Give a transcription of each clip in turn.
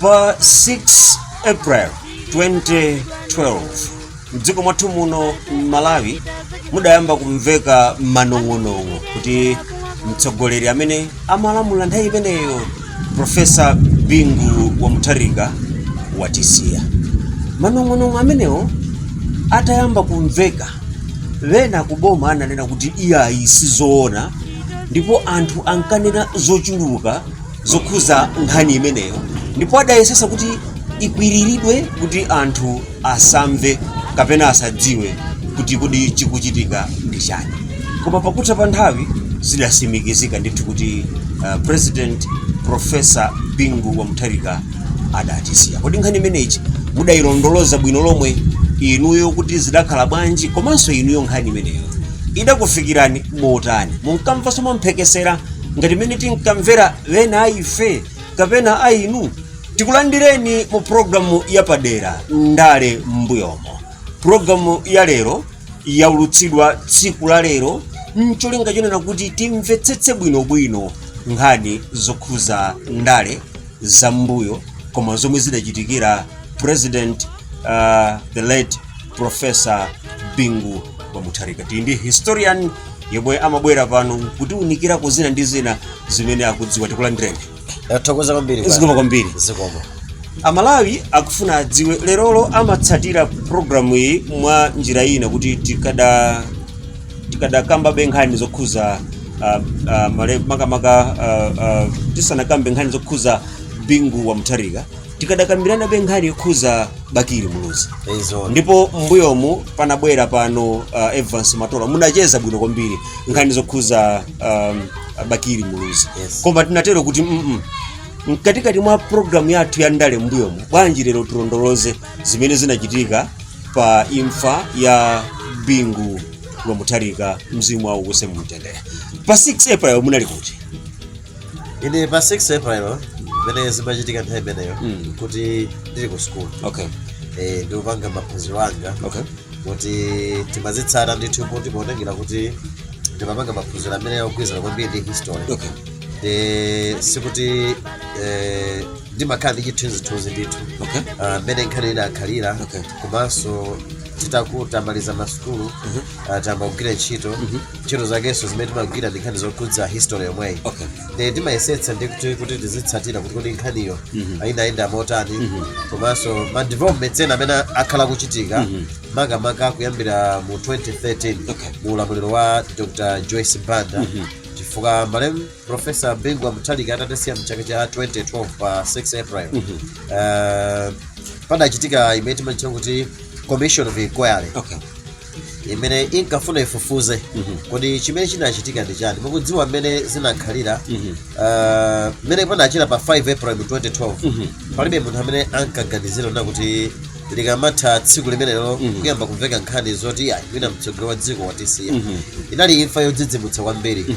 pa 6 april 2012 mdziko mwathu muno m'malawi mudayamba kumveka manong'onong'o kuti mtsogoleri amene amalamula nthawi imeneyo profesa bingu wa mutharika watisiya manong'onong'o amenewo atayamba kumveka wena kuboma ananena kuti iyayi sizoona ndipo anthu ankanena zochuluka zokhuza nkhani imeneyo ndipo adayesesa kuti ikwiriridwe kuti anthu asamve kapena asadziwe kuti kodi chikuchitika ndi chani koma pakutha pa nthawi zidasimikizika ndithu kuti uh, president profesa bingu wa mutharika adatisiya kodi nkhani imeneyi mudayilondoloza bwino lomwe inuyo kuti zidakhala bwanji komanso inuyo nkhani imeneyo idakufikirani motani munkamvanso mwamphekesera ngati mmene tinkamvera ena a ife kapena a inu tikulandireni mu programu yapadera ndale m'mbuyomo programu ya lero yaulutsidwa tsiku la lero ncholinga chonena kuti timvetsetse bwinobwino nkhani zokhuza ndale za m'mbuyo koma zomwe zidachitikira president uh, the late profesa bingu wa mutharika tili ndi historian yemwe amabwera pano kutiunikirako zina ndi zina zimene akudziwa tikulandireni tathokoza kwambiri bwana. zikomo kwambiri zikomo amalawi akufuna adziwe lerolo amatsatira programu iyi mwa njira ina kuti tikada tikadakambabe nkhani zokhuza ah, ah, male- makamaka ah, ah, tisanakambe nkhani zokhuza bingu wa mutharika tikadakambiranabe nkhani yokhuza bakili muluzi yes ndipo m'mbuyomu panabwera pano uh, evans matola munacheza bwino kwambiri nkhani zokhuza um, bakili muluzi Yes. koma tinatero kuti mm mkatikati mwa programu yathu ya ndale m'mbuyomu bwanji lero tilondoloze zimene zinachitika pa imfa ya bingu wa mutharika mzimu wawo uuse mumtendere pa 6 april munali kuti ine pa 6 april mmene zimachitika nthawi imeneyo Mm. kuti ndili ku sukulu okay eh, ndikupanga maphunziro anga okay kuti timazitsata ndithu kuti potengera kuti ndimapanga maphunziro amene akugwirizana kwambiri ndi history okay ndi sikuti eh, ndimakhala ndi chithunzithunzi ndithu okay Ah, mmene nkhani idakhalira Okay. komanso tita- titamaliza masukulu Mhm. ah, tayamba kugwira ntchito ntchito zakenso zimene timagwira ndi nkhani zokhudza history yomweyi Okay. nde timayesetsa ndi kuti kuti tizitsatira kuti kodi nkhaniyo ayendayenda motani komanso ma developments ena amene akhala kuchitika makamaka kuyambira mu 2013 Okay. mu ulamuliro wa dr joyce banda chifukwa malemu profesa bingu wa mutharika atatisiya mchaka cha 2012 pa 6 april uh, padachitika imene timatchula kuti commission of inquiry Okay. imene inkafuna ifufuze kodi chimene chinachitika ndi chani mukudziwa mmene zinakhalira ah, mmene panachera pa 5 april 2012 palibe munthu amene ankaganizira nena kuti likamatha tsiku limenelo kuyamba kumveka nkhani zoti ayi mwina mtsogoleri wa dziko watisiya inali imfa yodzidzimutsa kwambiri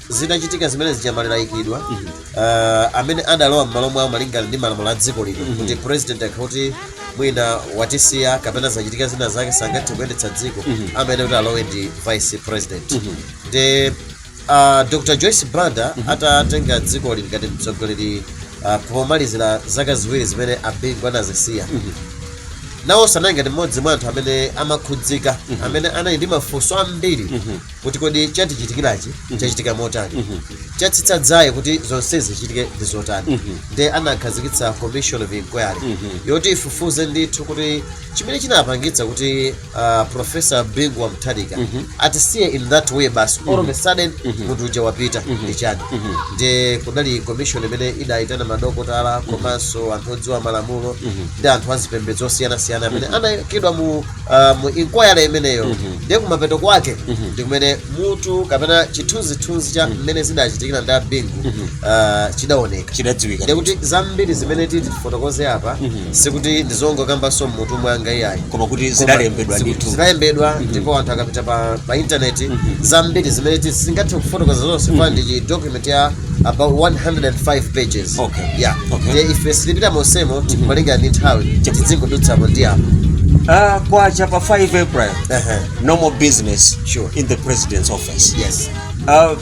zitachitika zimene zija maliro ayikidwa uh, amene adalowa m'malo mwawo malingana ndi malamulo a dziko lino kuti president akakhala kuti mwina watisiya kapena zachitika zina zake sangathe kuyendetsa dziko amayenera kuti alowe ndi vice president nde uh, dr joyce banda atatenga dzikoli ngati mtsogoleri uh, pomalizira zaka ziwiri zimene abingu anazisiya nawonso anali ngati mmodzi mwa anthu amene amakhudzika amene anali ndi mafunso ambiri kuti kodi chatichitikirachi chachitika motani chatsitsa dzaye kuti zonsezi zichitike ndi zotani nde anakhazikitsa commission of inquiry yoti ifufuze ndithu kuti chimene chinapangitsa kuti uh, professor bingu wa mutharika atisiye in that way basi all of a sudden munthu uja wapita ndi chani nde kudali commission imene idayitana madokotala komanso anthu odziwa malamulo ndi anthu azipembedzo osiyanasiyana amene anayikidwa mu uh, mu inquiry imeneyo ndiye kumapeto kwake ndi kumene mutu kapena chithunzithunzi cha mmene zidachitikira ndi abingu uh, chidaoneka chidadziwika ndiye kuti zambiri zimene titi tifotokoze apa sikuti ndizongokambanso mmutu mwanga iyayi koma kuti Koma zidalembedwa ziku- ndithu zidalembedwa ndipo anthu akapita pa, pa intaneti zambiri zimene titi singathe kufotokoza zonse kaamba ndi chi document ya about 105 pages Okay. yeah Okay. Ndiye ife sitipita monsemo kumalingana ndi nthawi tizingodutsamo ndi apo Ah, kwacha pa 5 april Ehe. no more business Sure. in the president's office yes Ah,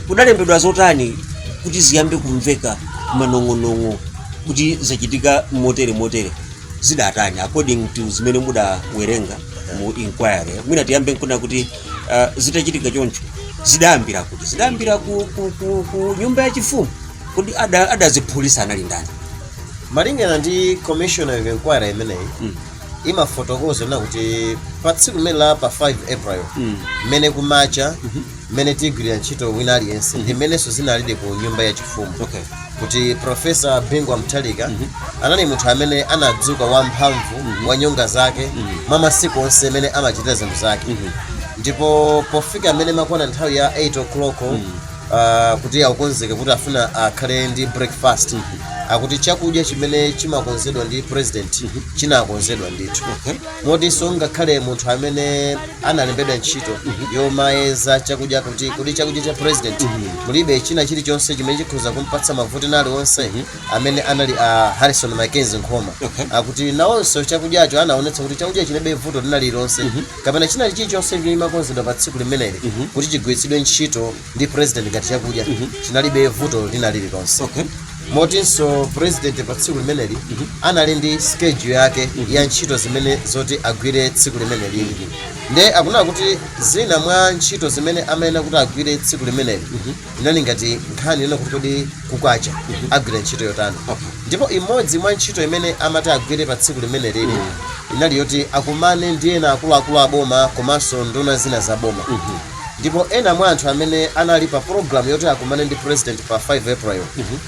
kudalembedwa zotani kuti ziyambe kumveka manong'onong'o kuti zachitika motere motere zidatani according to zimene mudawerenga mu inquiry mwina tiyambe nkunena kuti uh, zitachitika choncho zidayambira kuti zidayambira ku, ku, ku, ku nyumba ya chifumu kodi ada- adaziphulitsa anali ndani malingana ndi commission of inquiry imeneyi Mm. imafotokoza nena kuti pa tsiku limeneli la pa 5 april Mm. mmene kumacha mmene tigwirira ntchito wina aliyense ndi mmenenso zinalidi ku nyumba ya chifumu okay kuti profesa bingu wa mutharika anali munthu amene anadzuka wamphamvu wa nyonga zake mwa masiku onse amene amachitira zinthu zake ndipo pofika mmene imakwana nthawi ya 8 o'clock ah, kuti akukonzeke kuti afuna akhale ndi breakfast akuti chakudya chimene chimakonzedwa cha president chinakonzedwa ndithu motinso ngakhale munthu amene analembedwa ntchito yomayeza chakudya kuti kodi chakudya cha president mulibe china chilichonse chimene chikhoza kumpatsa mavuto ena aliwonse amene anali a harrison mackenzie nkhoma Okay. akuti nawonso chakudyacho anaonetsa kuti chakudya chilibe vuto lina lililonse kapena china chilichonse chimene chimakonzedwa pa tsiku limeneli kuti chigwiritsidwe ntchito ndi president ngati chakudya chinalibe vuto lina lililonse Okay. motinso president pa tsiku limeneli anali ndi schedule yake ya ntchito zimene zoti agwire tsiku limeneli nde akunena kuti zina mwa ntchito zimene amayenera kuti agwire tsiku limeneli inali ngati nkhani yonena kuti kodi kukacha agwira ntchito yotani Okay. ndipo imodzi mwa ntchito imene amati agwire pa tsiku limeneli inali yoti akumane ndi ena akuluakulu a boma komanso nduna zina za boma ndipo ena mwa anthu amene anali pa program yoti akumane ndi president pa 5 april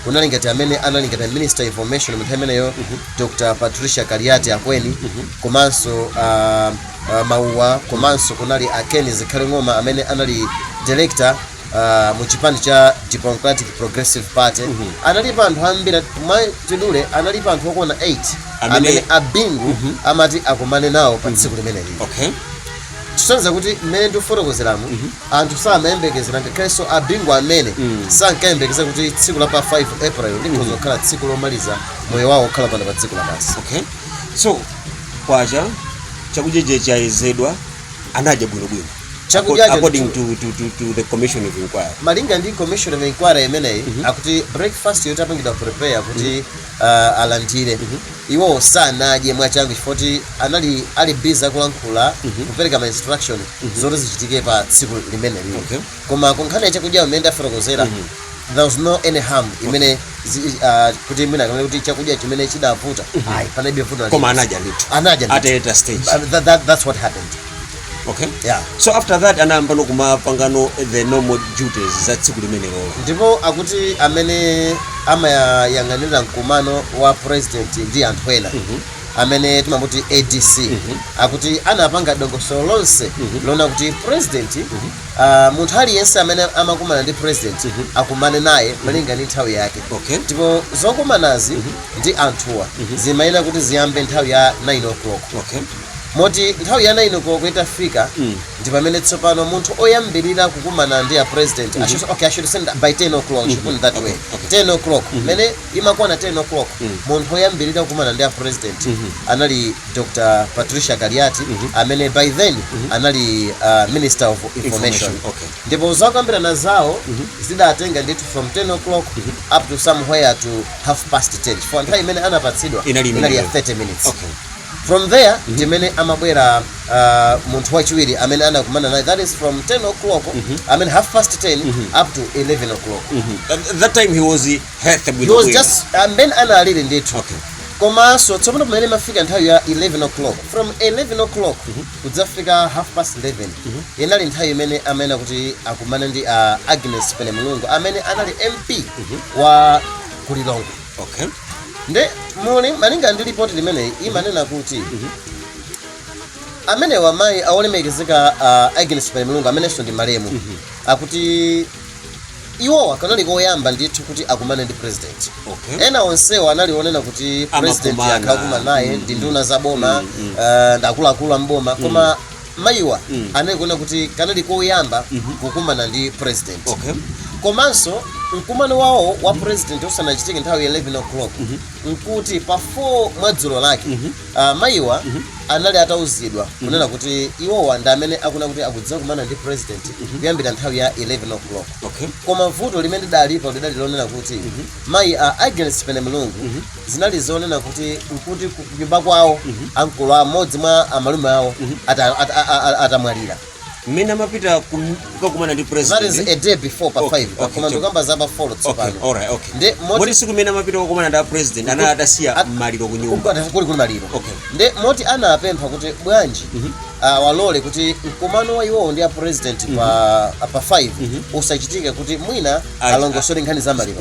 kunali ngati amene anali ngati minister information mu nthawi imeneyo dr patricia kaliati akweni komanso uh, a mauwa komanso kunali a ken zikhale ng'oma amene anali director uh, mu chipani cha democratic progressive party analipo anthu ambiri mwachidule analipo anthu okwana 8 Amene- amene a bingu amati akumane nawo pa tsiku limeneli okay kusonyeza kuti mmene ndikufotokozeramu anthu samayembekezera ngakhalenso a bingu omwe sankayembekeza kuti tsiku la pa 5 april likhoza kukhala tsiku lomaliza moyo wawo okhala pano pa dziko lapansi okay so kwacha chakudya chija chayezedwa anadya bwinobwino Chakudya Accord- cha according to, to, to, to the commission of inquiry malinga ndi commission of inquiry imeneyi akuti breakfast itapangidwa prepare kuti uh, alandire mm -hmm. iwo sanadye mwachangu chifoti anali ali busy akulankhula mm -hmm. kupereka ma instruction mm -hmm. zoti zichitike pa tsiku limeneli okay. koma kunkhani ya chakudya mmene ndafotokozera mm -hmm. there was no any harm imene uh, kuti mwina kamene kuti chakudya chimene chidavuta mm -hmm. ayi panalibe vuto koma anadya ndithu anadya ndithu at a later stage uh, that, that, that's what happened okay Yeah. so after that anayambano kumapangano the normal duties za tsiku limenelo ndipo akuti amene amayang'anira mkumano wa president ndi anthu ena amene timamuti adc akuti anapanga dongosolo lonse loona kuti president ah, munthu aliyense amene amakumana ndi president akumane naye malinga ndi nthawi yake okay ndipo zokumanazi ndi anthuwa zimayenera kuti ziyambe nthawi ya 9 o'clock okay moti nthawi ya 9 koloko itafika ndi pamene tsopano munthu oyambirira kukumana ndi a president I should- okay, I should say by 10 o'clock should put it that way 10 o'clock mmene imakwana 10 o'clock munthu oyambirira kukumana ndi a president anali dr patricia kaliati amene by then anali uh, minister of information Information, okay. ndipo zokambirana zawo zidatenga ndithu from 10 o'clock up to somewhere to half past 10 chifukwa nthawi imene anapatsidwa Inali inali ya imeneyo. 30 minutes Okay. From there ndi mene amabwera uh, munthu wachiwiri amene anakumana naye that is from 10 o'clock I mean half past 10 up to 11 o'clock At that time he was healthy he bwino was bwino. just and amene analili ndithu Okay. komanso tsopano pamene imafika nthawi ya 11 o'clock from 11 o'clock kudzafika half past 11 inali nthawi imene amayenera kuti akumane ndi uh, agnes penemulungu amene anali mp wa ku lilongwe okay nde mmalinga ndi lipoti limeneyi imanena kuti amene wa mayi awolemekezeka uh, agnes penemulungu amenenso ndi malemu akuti iwowa kanali koyamba ndithu kuti akumane ndi president okay ena onsewo anali onena kuti president Amakumana. akhala akukumana naye ndi nduna za boma uh, ndi akuluakulu a mboma koma mayiwa Mm. anali kunena kuti kanali koyamba Mhm. kukumana ndi president okay komanso mkumano wawo wa president usanachitike nthawi ya 11 o'clock Mhm. nkuti pa 4 mwadzulo lake Mhm. ah, mayiwa Mhm. anali atauzidwa kunena kuti iwowa ndi amene akunena kuti akudzakumana ndi president kuyambira nthawi ya 11 o'clock okay koma vuto limene lidalipo lidali lonena kuti mayi a agnes penemulungu zinali zonena kuti nkuti ku- kunyumba kwawo ankolo amodzi mwa amalume awo ata- ata- a- a- atamwalira mmene amapita kum- kukakumana ndi that is president a day before pa Okay, 5 okay, koma chop. ndikukamba za pa 4 okay tsopano alright okay Ndi moti- moti tsiku limene amapita kukakumana ndi a president anali atasiya At- maliro kunyumba Ukwati kuli kuli maliro Okay. nde moti anapempha kuti bwanji ah, awalole kuti mkumano wa iwowo ndi a president pa pa 5 usachitike kuti mwina Ayi. alongosole nkhani za maliro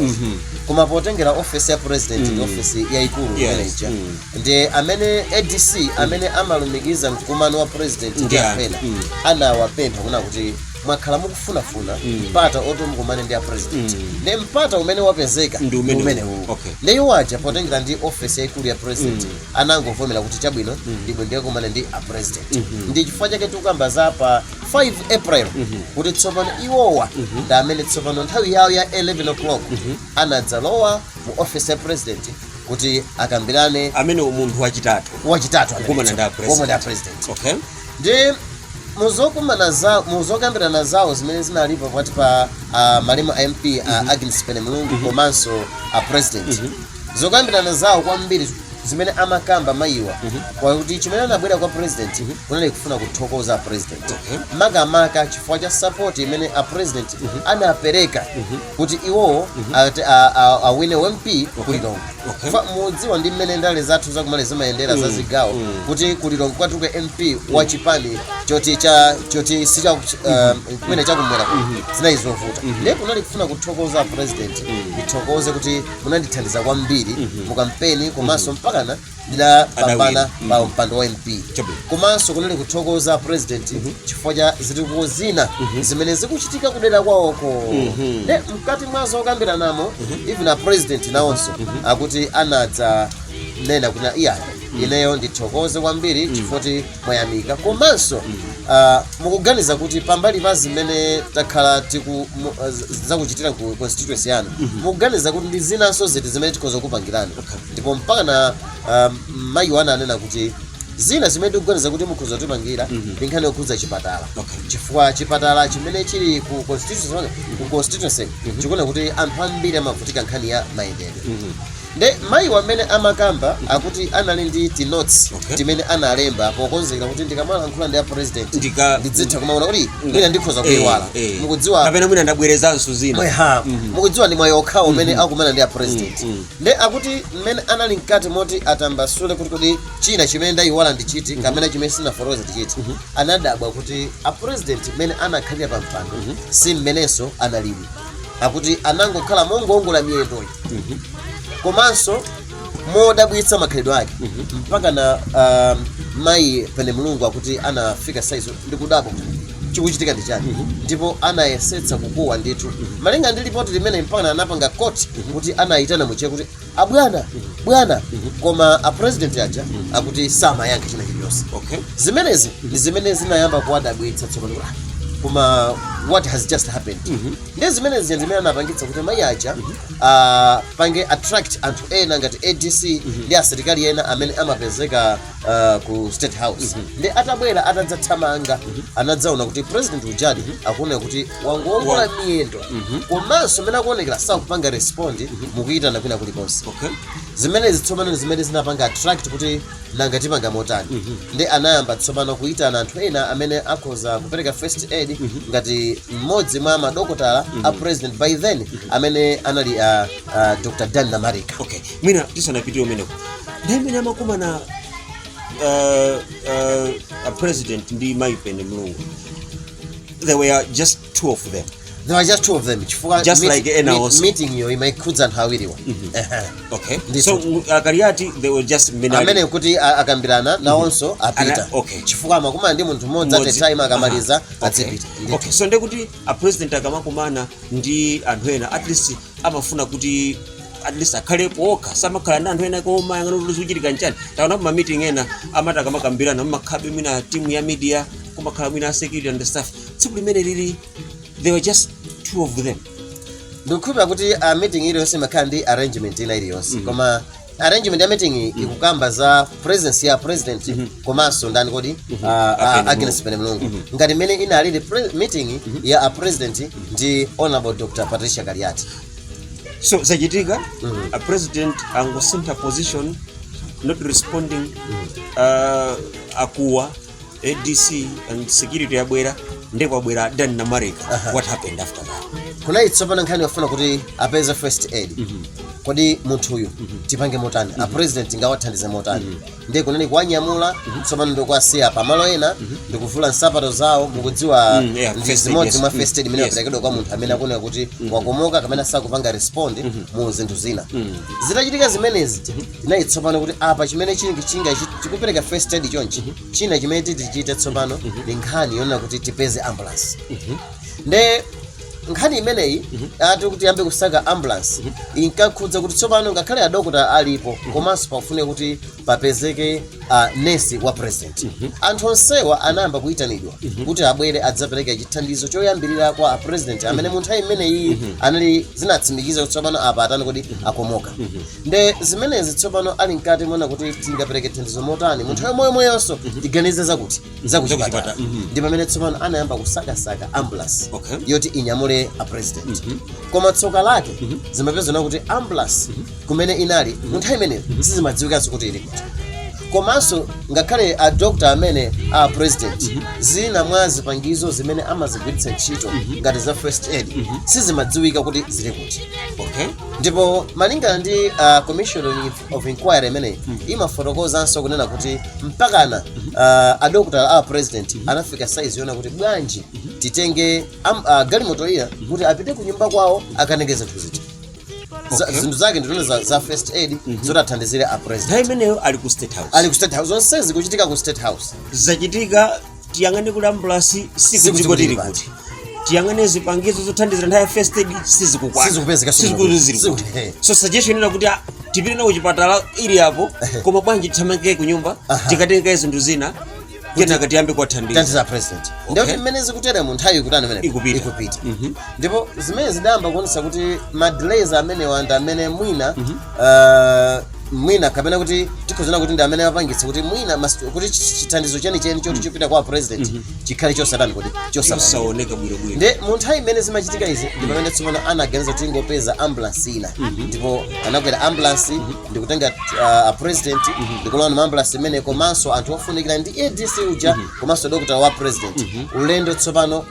koma potengera ofesi ya president ndi ofesi yayikulu Yes. manager Mm. ndi amene adc amene amalumikiza mkumano wa president ndi Yeah. amene Mm. anawapempha kunena kuti mwakhala mukufunafuna mpata oti mukumane ndi a president nde mpata umene wapezeka Ndi umene- umenewu okay. nde iwo aja potengera ndi ofesi yayikulu ya president anangovomera kuti chabwino ndibwe ndikakumane ndi a president ndi chifukwa chake tikukamba za pa 5 april kuti tsopano iwowa ndi amene tsopano nthawi yawo ya 11 o'clock anadzalowa mu office ya president kuti akambirane amene munthu wachitatu wachitatu amene Kukumana ndi a tsopano- kukumana ndi a president. president okay ndi muzokumana za muzokambirana zawo zimene zinalipo pakati pa uh, malemu a mp uh, agnes penemulungu komanso a president zokambirana zawo kwambiri zimene amakamba mayiwa kwakuti chimene anabwera kwa president kunali kufuna kuthokoza a president makamaka chifukwa cha support imene a president anapereka kuti iwowo ati a- a- awine mp ku Lilongwe Fa- mudziwa ndi mmene ndale zathu za ku Malawi zimayendera za zigawo kuti ku Lilongwe kutuluke mp wa chipani choti cha choti si cha uh, kumene chakumwera zinali zovuta ndiye kunali kufuna kuthokoza a president ndithokoze kuti munandithandiza kwambiri mu kampeni komanso mpakana ndinapambana Anawina. pa mpando wa mp Chabwino. komanso kunali kuthokoza president chifukwa cha zitukuko zina zimene zikuchitika kudera kwawoko nde mkati mwa zokambiranamo even a president nawonso akuti anadzanena kuti iyayi ineyo ndithokoze kwambiri chifukwa mwayamika komanso ah, mukuganiza kuti pambali pa zimene takhala tiku mu- ah, z- zakuchitira ku constituency yanu mukuganiza kuti ndi zinanso ziti zimene tikhoza kupangirani ndipo mpakana ah, mayiwa ananena kuti zina zimene tikuganiza kuti mukhoza kutipangira ndi nkhani yokhudza chipatala chifukwa chipatala chimene chili ku constituency ku constituency chikuoneka kuti anthu ambiri amavutika nkhani ya mayendedwe nde mayiwa mmene amakamba akuti anali ndi ti notes Okay. timene analemba pokonzekera kuti ndikamalankhula ndi a president Ndika- ndidzitha kumaona kuti mwina ndikhoza kuiwala Eh, eh. mukudziwa kapena mwina ndabwerezanso zina mweha mukudziwa ndi mwayi okhawo umene akumana ndi a president Mhm. nde akuti mmene anali mkati moti atambasule kuti kodi china chimene ndayiwala ndi chiti kapena chimene sinafotokoza ndi chiti anadabwa kuti a president mmene anakhalira pa mpando si mmenenso analili akuti anangokhala mongoongola miyendo komanso modabwitsa makhalidwe ake mpakana um, mayi Penemulungu akuti anafika saizo ndikudabwa chikuchitika ndi chani ndipo anayesetsa kukuwa ndithu malinga ndi lipoti limene mpaka anapanga quote kuti anayitana mu Chichewa kuti abwana bwana koma a president aja akuti samayankha china chilichonse okay zimenezi ndi zimene zinayamba kuwadabwitsa tsopano kuti, "Ah, koma what has just happened ndi zimenezi zimene anapangitsa kuti mayi aja ah, apange attract anthu ena ngati adc ndi asilikali ena amene amapezeka ah, ku state house nde atabwera atadzathamanga anadzaona kuti president ujadi akuoneka kuti wangoongola miyendo komanso mmene akuonekera sakupanga respond mukuyitana kwina kulikonse Okay. zimenezi tsopano ndi zimene zinapanga attract kuti nanga tipanga motani Mhm. nde anayamba tsopano kuyitana anthu ena amene akhoza kupereka first aid ngati mmodzi mwa madokotala a president by then amene anali a, a dr dan namarika okay mwina tisanapitire kumeneko nde mmene amakumana uh, uh, a president ndi mayi Penemulungu they were just two of them They were just two of them. Chifukwa Just meet- like ena meet- also. Meeting iyo imaikhudza anthu awiriwa. Ehe. okay Ndithu. so u- a Kaliati they were just many. amene kuti a- akambirana nawonso apita Ana- okay. chifukwa amakumana ndi munthu mmodzi Mmodzi. at a time akamaliza Aha, okay. adzipita Ndithu. okay so nde kuti a president akamakumana ndi anthu ena at least amafuna kuti at least akhalepo okha samakhala ndi anthu ena koma oyang'ana kuti chikuchitika nchani taona kuma meeting ena amati akamakambirana mumakhalabe mwina timu ya media kumakhala mwina a security and stuff tsiku limene lili they were just two of them ndikukhulupirira kuti a meeting iliyonse imakhala ndi arrangement ina iliyonse koma arrangement ya meeting ikukamba za presence ya president komanso ndani kodi a- a- Agnes Agnes Penemulungu ngati mmene inaliri pre- meeting ya a president ndi honorable dr Patricia Kaliati so zachitika a president angosintha position not responding uh, akuwa adc and security yabwera nde kwabwera Dan Namarika Aha. what happened after that kunali tsopano nkhani yofuna kuti apeze first aid kodi munthuyu tipange motani a president tingawathandize motani ndiye kunali kuwanyamula tsopano ndikuwasiya pamalo ena ndikuvula nsapato zawo mukudziwa Mm, yeah, ndi first aid, zimodzi yes. mwa first aid imene Yes. yaperekedwa kwa munthu amene akuoneka kuti wakomoka kapena sakupanga respond mu zinthu zina zitachitika zimenezi inali tsopano kuti apa chimene chili chinga chi- chikupereka first aid chonchi china chimene titi tichite tsopano ndi nkhani yonena kuti tipeze ambulance nde nkhani imeneyi ati kuti tiyambe kusaka ambulance inkakhudza kuti tsopano ngakhale adokota alipo komanso pakufunika kuti papezeke uh, nesi wa president anthu onsewa anayamba kuyitanidwa kuti abwere adzapereke chithandizo choyambirira kwa a president amene mu nthawi imeneyi anali zinatsimikiza kuti tsopano apa atani kodi akomoka nde zimenezi tsopano ali mkati moona kuti tingapereke thandizo motani mu nthawi yomweyomweyonso tiganize zakuti zakuchipatala Zakuchipatala, mhm. ndi pamene tsopano anayamba kusakasaka ambulance Okay. yoti inyamule a president koma tsoka lake zimapezeka kuti ambulance kumene inali mu nthawi imeneyo sizimadziwikanso kuti ili kuti komanso ngakhale a doctor amene a president zina mwa zipangizo zimene amazigwiritsa ntchito ngati za first aid sizimadziwika kuti zili kuti okay ndipo malingana ndi uh, commission of- of inquiry imeneyi imafotokozanso kunena kuti mpakana uh, adokotala a president anafika saizi yonena kuti bwanji titenge am, uh, galimoto ija kuti apite ku nyumba kwawo akatenge zinthu ziti Za- Okay. zinthu zake ndizonena za, za first aid zoti athandizire a president nthawi imeneyo ali ku state house ali ku state house zonse zikuchitika ku state house zachitika tiyang'ane kuti ambulance Sikuti sikudziko tili tili kuti tiyang'ane zipangizo zothandizira nthawi ya first aid sizikukwana Sizikupezeka, sizikuti zili kuti sizikuti- so suggestion ina kuti ah, tipite nawo kuchipatala ili apo koma bwanji tithamangike ku nyumba Aha. tikatenge zinthu zina kenaka tiyambe kuwathandiza thandiza a president Okay. ndiye mmene zikuteremu nthawi ikutani imene Ikupita. ikupita Mhm. ndipo zimene zidayamba kuonesa kuti madelays amenewa ndi amene mwina Ah, mwina kapena kuti tikhoza kunena kuti ndi amene apangitsa kuti mwina mas- kuti chi- chithandizo chenicheni choti chopita kwa a president chikhale chosatani kuti chosaoneka chosaoneka bwinobwino nde mu nthawi imene zimachitika izi ndi pamene tsopano anaganiza kuti angopeza ambulance ina ndipo anakwera ambulance ndi kutenga a president ndikulowa mu ambulance imene komanso anthu ofunikira ndi adc uja komanso dokotala wa president ulendo tsopano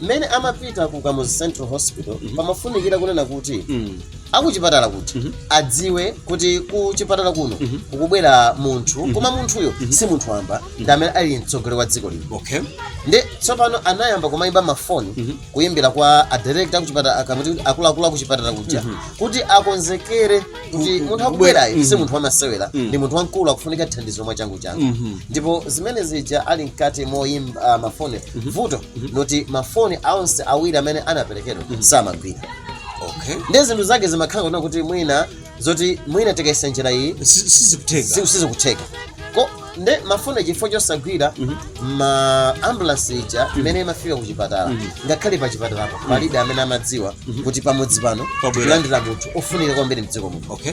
mmene amapita ku kamuzu central hospital pamafunikira kunena kuti akuchipatala kuja adziwe kuti ku chipatala kuno kukubwera munthu koma munthuyo si munthu wamba ndi amene ali mtsogoleri wa dziko lino okay nde tsopano anayamba kumayimba mafoni kuyimbira kwa adirekta akuchipatala akamuti kuti akuluakulu akuchipatala kuja kuti akonzekere kuti munthu akubwerayo si munthu wamasewera ndi munthu wamkulu akufunika thandizo mwachangu changu ndipo zimene zija ali mkati moyimba mafoni vuto ndi loti mafoni onse awiri amene anaperekedwa samagwira okay nde zinthu zake zimakhala kunena kuti mwina zoti mwina tikayesa njira iyi Si- sizikutheka si- sizikutheka ko nde mafoni chifukwa chosagwira ambulance ija mmene imafika ku chipatala ngakhale pa chipatalapo palibe amene amadziwa kuti pamudzi pano Pabwera. tilandira munthu ofunika kwambiri mdziko muno okay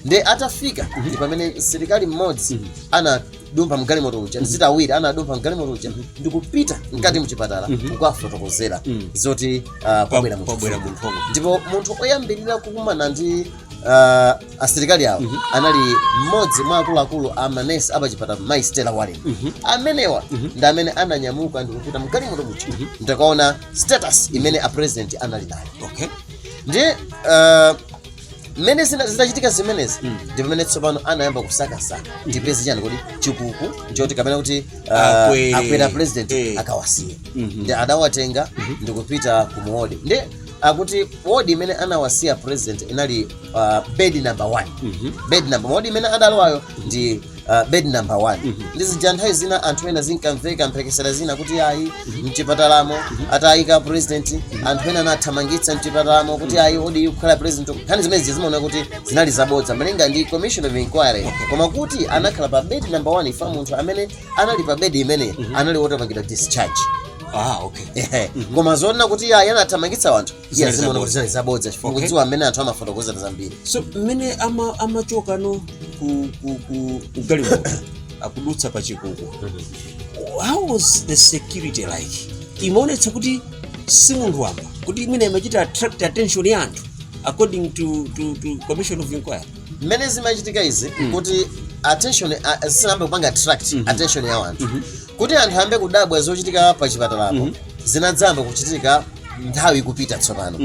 nde atafika ndi pamene msilikali mmodzi ana dumpha mgalimoto uja mm -hmm. nditi awiri anadumpha mgalimoto uja mm -hmm. ndikupita mkati mm mchipatala mm -hmm. kukafotokozera mm -hmm. zoti uh, pabwera munthu ndipo munthu oyambirira kukumana ndi uh, asilikali awo mm -hmm. anali mmodzi mwa akuluakulu a manesi apachipatala mai Stella Warren mm -hmm. amenewa mm -hmm. ndi amene ananyamuka ndikupita mgalimoto muja mm -hmm. ndikukaona status imene a president anali nayo okay. ndi uh, mmene zina- zitachitika zimenezi ndi pamene tsopano anayamba kusakasaka tipeze chani kuti chikuku choti kapena kuti uh, Akwe- akwere a president eh. akawasiye nde adawatenga ndikupita ku muwodi nde akuti wodi imene anawasiya a president inali uh, bed number one bed number wodi imene adalowayo ndi Uh, bed number one mm -hmm. nde zija nthawi zina anthu ena zinkamveka mphekesera zina kuti ayi mm -hmm. mchipatalamo mm -hmm. atayika a president mm -hmm. anthu ena anathamangitsa mchipatalamo kuti mm -hmm. ayi oti kukhale president nkhani zimenezi zimaoneka kuti zinali zabodza malinga ndi commission of inquiry okay. koma kuti anakhala pa bed number one chifukwa munthu amene anali pa bed imene mm -hmm. anali wotapangidwa discharge ah, okay. mm -hmm. koma zonena kuti ayi anathamangitsa wanthu Zinali iye zimaona kuti zabodza. zinali zabodza chifukwa Okay. kudziwa mmene anthu amafotokozera zambiri so mmene ama- amachoka no ku, ku, ku, ku galimoto akudutsa pa chikuku how was the security like imaonetsa kuti si munthu wamba kuti imene imachita attract attention ya anthu according to, to, to commission of inquiry mmene zimachitika izi kuti attention a- zisanayambe kupanga attract attention ya anthu kuti anthu ayambe kudabwa zochitika pa chipatalapo zinadzayamba kuchitika nthawi ikupita tsopano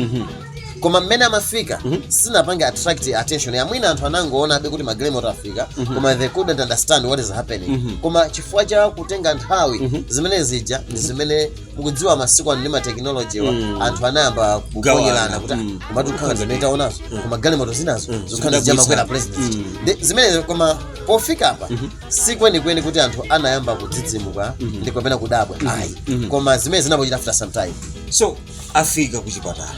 koma mmene amafika sinapange attract attention ya mwina anthu anangoonabe kuti magalimoto afika koma they couldn't understand what is happening koma chifukwa cha kutenga nthawi zimene zija ndi zimene mukudziwa masiku ano ndi ma technology-wa anthu anayamba kuponyerana kuti Mm. "Ah, komatu kukhala zimene taonazo koma galimoto zinazo zokhala Zidabwitsa. zija makwera president Ndi zimenezo koma pofika apa si kwenikweni kuti anthu anayamba kudzidzimuka ndi kapena kudabwa ayi koma zimene zinapochitika after some time so afika ku chipatala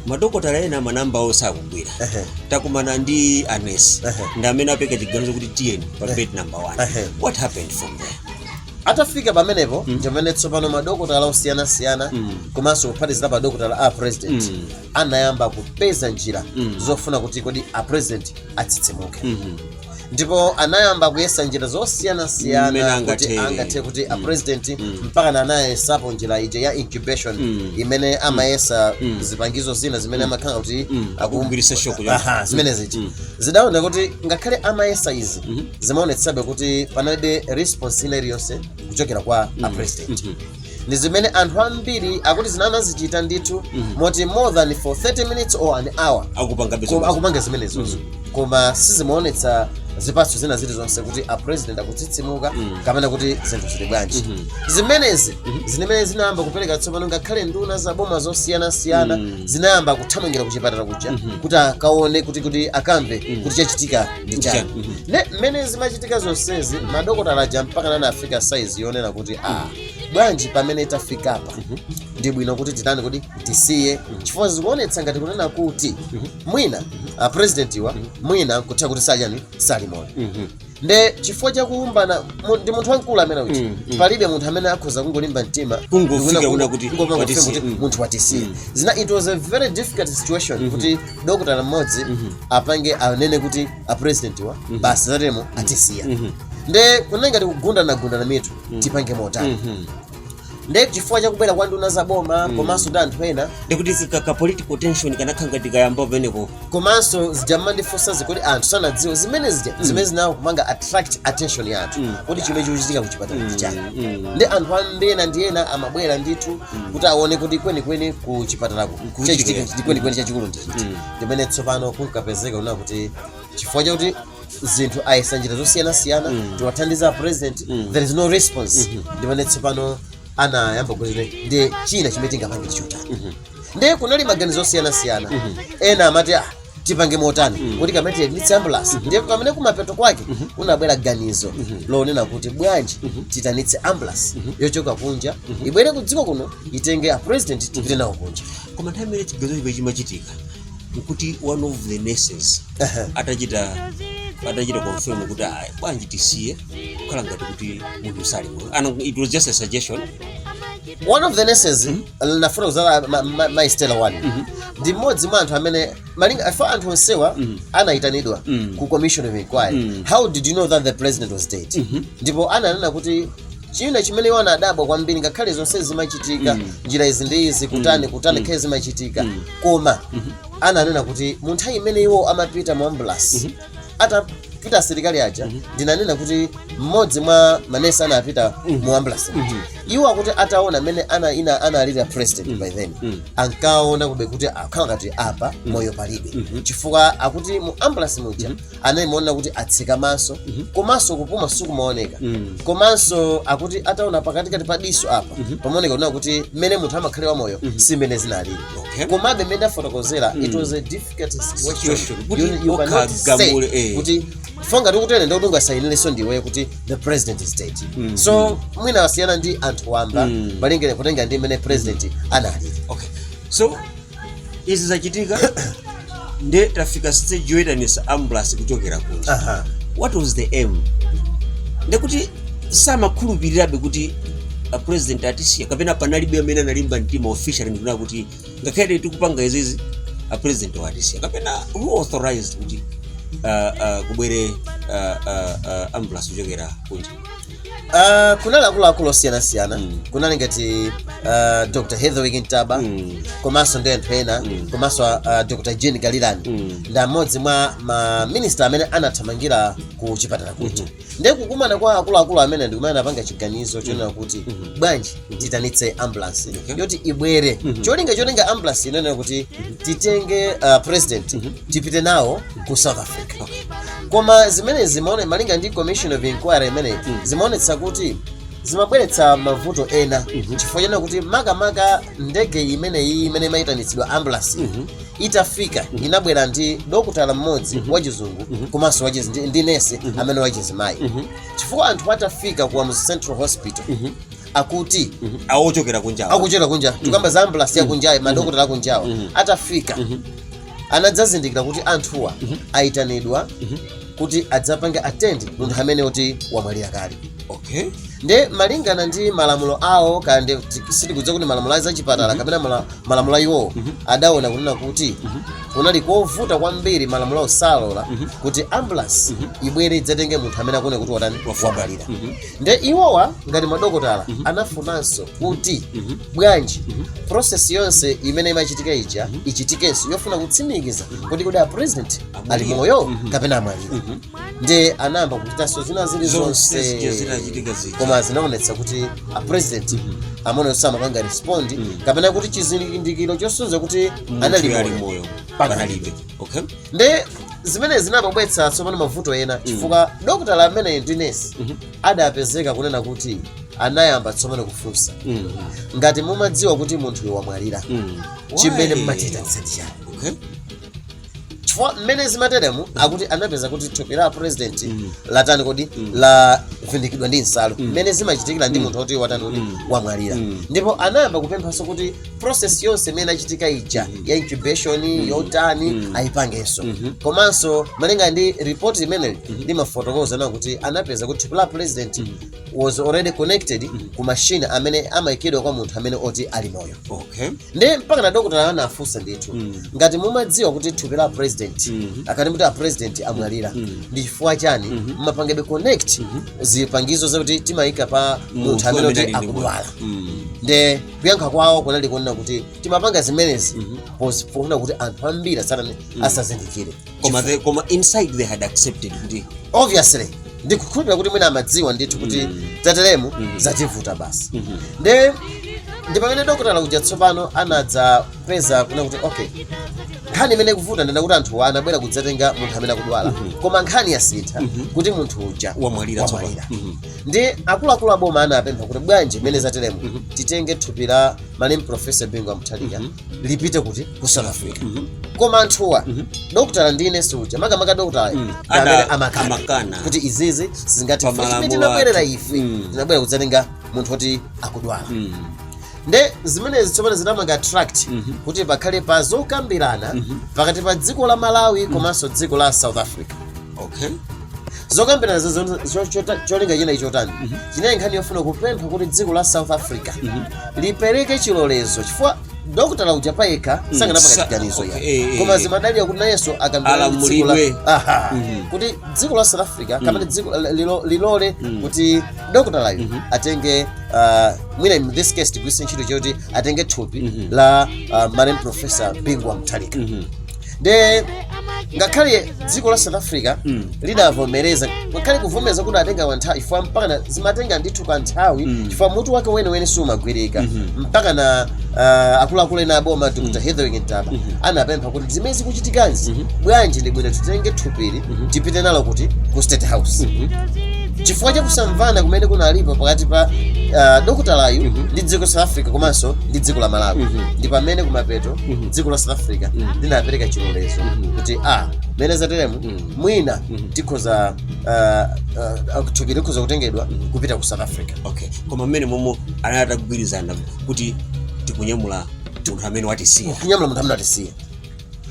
madokotala ena manamba awo sakugwira Ehe. takumana ndi anesi Ehe. ndi amene apeka chiganizo kuti tiyeni pa bed number one Ehe. what happened from there atafika pamenepo ndipamene tsopano madokotala osiyanasiyana komanso kuphatikizirapo madokotala a president Mm. anayamba kupeza njira Mm. zofuna kuti kodi a president atsitsimuke ndipo anayamba kuyesa njira Mmene zosiyanasiyana kuti angathere. angathe kuti Mm. apresidenti Mm. mpakana anayesapo njira ija ya incubation Mm. imene amayesa Mm. zipangizo zina zimene amakhala kuti Mm. aku- Akugwiritsa shoko ya- Aha, zimene ziti Mm. zidaona kuti ngakhale amayesa izi Mhm. zimaonetsabe kuti panalibe response ina iliyonse kuchokera kwa apresidenti Mhm. ndi zimene anthu ambiri akuti zinanazichita ndithu moti more than for 30 minutes or an hour akupanga zimenezozo koma sizimaonetsa zipatso zina zilizonse kuti a president akutsitsimuka kapena kuti zinthu zili bwanji zimenezi zimene zinayamba kupereka tsopano ngakhale nduna za boma zosiyanasiyana zinayamba kuthamangira kuchipatala kuja kuti akaone kuti kuti akamve kuti chachitika ndi chani Chani. ne mmene zimachitika zonsezi madokotala aja mpakana anafi afika size yonena kuti ah bwanji pamene tafikapa ndi bwino kuti titani kuti tisiye chifukwa zikuonetsa ngati kunena kuti mwina a president wa mwina kutha kuti sajani sali moyo Mhm. nde chifukwa chakuumbana mu- ndi munthu wamkulu amene uti Mm, mm. palibe munthu amene akhoza kungolimba mtima Kungofika ndikuna kungo- kuna kuti kungofika watisiye. kuti Mm. munthu watisiye Mm. zina it was a very difficult situation kuti dokotala mmodzi apange anene kuti a presidentwa basi zatemo atisiya nde kunali ngati kugundana gundana mitu tipange motani nde chifukwa chakubwera kwa nduna za boma komanso ndi anthu ena ndikuti zika- ka political tension kanakhala ngati kayamba pamenepo komanso zija mumandifunsa zikuti anthu sanadziwa zimene zija zimene zinayamba kupanga attract attention ya anthu kuti chimene chikuchitika kuchipatala ndi chani nde anthu ambiri ena ndi ena amabwera ndithu kuti aone kuti kwenikweni ku chipatalako chachitika kwenikweni chachikulu ndi chiti ndi mmene tsopano kunkapezeka kunena kuti chifukwa chakuti zinthu ayesa njira zosiyanasiyana Mm. tiwathandize a president Mm. there is no response Mhm. ndi mmene tsopano anayamba kuti nde china chimene tingapange chotani Mhm. ndiye kunali maganizo osiyanasiyana Mhm. ena amati ah, tipange motani Mhm. kuti kapena tiyitanitse ambulance ndiye pamene kumapeto kwake kunabwera ganizo Mhm. lonena kuti bwanji Mhm. tiyitanitse ambulance Mhm. yochoka kunja ibwere kudziko kuno itenge a president tipite nawo kunja koma nthawi imene chiganizo chimenechi chimachitika nkuti one of the nurses Aha. atachita atachita confirm kuti "Ah, bwana atisiya kukhala ngati kuti munthu sali moyo and it was just a suggestion one of the nurses linafuna kuzala ma- ma- mai stella warren ndi mmodzi mwa anthu amene malinga afa anthu onsewa anayitanidwa ku commission of inquiry how did you know that the president was dead ndipo ananena kuti china chimene iwo anadabwa kwambiri ngakhale zonse zimachitika mm. njira izi ndi izi kutani mm. kutani mm. ngakhale zimachitika mm. koma mm -hmm. ananena kuti mu nthawi imene iwo amapita mu ambulasi mm -hmm. atapita asilikali aja mm -hmm. ndinanena kuti mmodzi mwa manesi anapita mm -hmm. mu ambulasi mm -hmm. iwo akuti ataona mmene analili ana, a president mm -hmm. by then mm -hmm. ankaonakobe kuti akhala ngati apa mm -hmm. moyo palibe mm -hmm. chifukwa akuti mu ambulasi muja mm -hmm. anali kuona kuti atseka maso komanso kupuma sikumaoneka Mm. komanso akuti ataona pakatikati pa diso apa pamaoneka kunena kuti mmene munthu amakhalira wamoyo si mmene zinalili Okay. komabe mmene ndafotokozera it was a difficult Situation. situation Kuti You- you cannot say ukagamule, eh. kuti fonga tikutene ndi kuti ungasayinilenso ndiwe kuti the president is dead so mwina amasiyana ndi anthu wamba Mm. malingana kutengera ndi mmene president analili okay so izi zachitika nde tafika stage yoyitanitsa ambulance kuchokera kunja Aha. what was the aim ndekuti samakhulupirirabe kuti a president atisiya kapena panalibe amene analimba mtima officially ndikunena kuti ngakhale tikupanga izizi a presidentwa atisiya kapena who authorized kuti uh, uh, kubwere uh, uh, uh, ambulance kuchokera kunja Ah, kunali akuluakulu osiyanasiyana kunali ngati ah, dr hetherwick ntaba Mm. komanso ndi anthu ena komanso ah, dr jean kalilani Mm. ndi amodzi mwa maminista amene anathamangira ku chipatala kuja ndiye kukumana kwa akuluakulu amenewa ndi kumene anapanga chiganizo chonena kuti bwanji titanitse ambulance Okay. yoti ibwere Mhm. cholinga chotenga ambulance inanena kuti titenge uh, president Mhm. tipite nawo ku south africa koma zimene zimaone malinga ndi commission of inquiry imeneyi Mhm. zimaonetsa kuti zimabweretsa mavuto ena Mhm. chifukwa chonena kuti makamaka ndege imeneyi imene imayitanitsidwa ambulance Mhm. itafika inabwera ndi dokotala mmodzi Mhm. wachizungu Mhm. komanso wachizi ndi, ndi nesi Mhm. amene wachizimayi Mhm. chifukwa anthu atafika ku Kamuzu central hospital Mhm. akuti awo ochokera kunjawo akuchokera kunja tikamba za ambulasi yakunjayi madokotala akunjawo atafika anadzazindikira kuti anthuwa ayitanidwa kuti adzapange atendi munthu amene oti wamwalira kale okay nde malingana ndi malamulo awo kaya ndi sitikudziwa kuti malamulo a zachipatala kapena mala- malamulo a iwowo adaona kunena kuti kunali kovuta kwambiri malamulo osalola kuti ambulasi ibwere idzatenge munthu amene akuona kuti watani wamwalira nde iwowa ngati madokotala anafunanso kuti bwanji process yonse imene imachitika ija ichitikenso yofuna kutsimikiza kuti kodi a president ali moyo kapena amwalira nde anayamba kuchitanso zina zili Zonse zija zonse zinachitika zija. koma zinaonetsa kuti a president amenewo samapanga respond kapena kuti chizindikiro chosonyeza kuti anali ali moyo moyo panalibe okay nde zimene zinabweretsa tsopano mavuto ena chifukwa dokotala ameneyu ndi nesi Mhm. adapezeka kunena kuti anayamba tsopano kufunsa Mm. ngati mumadziwa kuti munthuyo wamwalira Mm. chimene Why? mmachita ndi chani okay chifukwa mmene zimateremu akuti anapeza kuti thupi la president Mm. latani kodi Mm. lavindikidwa ndi nsalu Mm. mmene zimachitikira ndi Mm. munthu oti watani kodi Mm. wamwalira Mm. ndipo anayamba kupemphanso kuti process yonse imene inachitika ija ya incubation yotani ayipangenso komanso malinga ndi report limeneli limafotokoza nawo kuti anapeza kuti thupi la president was already connected ku mashini amene amayikidwa kwa munthu amene oti ali moyo okay nde mpaka na dokotala anafunsa ndithu ngati mumadziwa kuti thupi la president akati muti a president amwalira ndi chifukwa chani mmapangebe connect zipangizo zakuti timayika pa munthu amene oti akudwala ndi kuyankha kwawo kunali konena kuti timapanga zimenezi Mhm. pos- pofuna kuti anthu ambiri asatani asazindikire koma the, koma inside they had accepted kuti obviously ndikukhulupirira kuti mwina amadziwa ndithu kuti Mm. zateremu Mhm. zativuta basi Mhm. nde ndi pamene dokotala uja tsopano anadzapeza kunena kuti okay nkhani imene ikuvuta nde nakuti anthuwa anabwera kudzatenga munthu amene akudwala koma nkhani yasintha kuti munthu uja wamwalira tsopano wamwalira Mhm. ndi akuluakulu a boma anapempha kuti bwanji mmene zateremu Mhm. titenge thupi la malemu profesa bingu wa mutharika Mhm. lipite kuti ku south africa Mhm. koma anthuwa Mhm. dokotala ndi ine suja makamaka dokotala Mm. amene Ada- amakana amakana. kuti izizi sizingathe Pa malamulo chimene tinabwerera athu. ife Mm. tinabwera kudzatenga munthu woti akudwala Mm. nde zimenezi tsopano zinamanga attract Mhm. kuti pakhale pa zokambirana Mhm. pakati pa dziko la malawi komanso dziko la south africa okay zokambirana za- za- za- chota- cholinga chinali chotani chinali nkhani yofuna kupempha kuti dziko la south africa lipereke chilolezo chifukwa dokotala uja payekha sakanapanga sa- chiganizo okay, eh, ya eh, koma eh. zimadalira kuti nayenso akambirana ndi dziko la- Alamulidwe. Aha. kuti dziko la south africa kapena dziko la- lilo- lilole kuti dokotalayo atenge ah, mwina in this case tigwiritse ntchito choti atenge thupi la ah, malemu professor bingu wa mutharika nde ngakhale dziko la south africa Mm. lidavomereza ngakhale kuvomereza kunatenga kanthawi chifukwa mpakana zimatenga ndithu kanthawi Mm. chifukwa mutu wake weniweni sumagwirika Mhm. mpakana ah, akuluakulu ena aboma dr hetherwick ntaba Mhm. anapempha kuti zimene zikuchitikazi Mhm. bwanji ndi bwino titenge thupili Mhm. tipite nalo kuti ku state house Mhm. chifukwa chakusamvana kumene kunalipo pakati pa ah, dokotalayu Mhm. ndi dziko south africa komanso ndi dziko la malawi Mhm. ndi pamene kumapeto Mhm. dziko la south africa Mm. linapereka chilolezo Mhm. kuti a mmene zateremu Mm. mwina Mhm. tikhoza ah, ah, thupi likhoza kutengedwa Mhm. kupita ku south africa okay koma mmenemo anali atagwirizana kuti tikunyamula munthu amene watisiya kunyamula munthu amene watisiya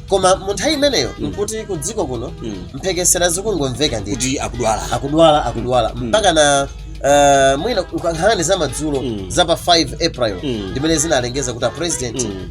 koma mu nthawi imeneyo Mm. nkuti ku dziko kuno Mm. mphekesera zikungomveka ndithu kuti akudwala akudwala akudwala Mm. mpakana ah, mwina nkhani za madzulo Mm. za pa 5 april Mm. ndimene zinalengeza kuti a president Mm.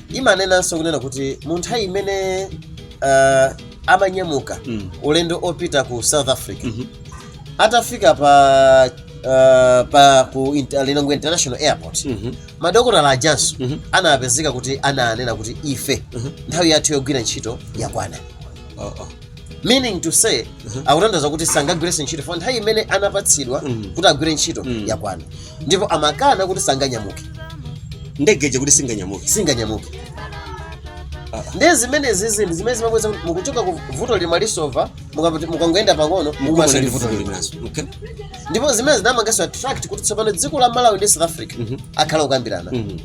imanenanso kunena kuti mu nthawi imene uh, amanyamuka Mm. ulendo opita ku south africa Mhm. atafika pa uh, pa ku inter, lilongwe international airport Mhm. ma pilot ajanso Mhm. anapezeka kuti ananena kuti ife Mhm. nthawi yathu yogwira ntchito yakwana Oh, oh. meaning to say akutanthauza kuti sangagwirenso ntchito for nthawi imene anapatsidwa Mm. kuti agwire ntchito Mm. yakwana ndipo amakana kuti sanganyamuke ndege ija kuti singanyamuke singanyamuke Ah. ndiye zimenezi ndi zimene zimabweza kuti mukuchoka ku vuto lina lasova mukapati- mukangoyenda pang'ono mukumanaso ndi vuto linaso Okay. ndipo zimene zinamangaso attract kuti tsopano dziko la malawi ndi south africa Mhm. akhala okambirana Mhm.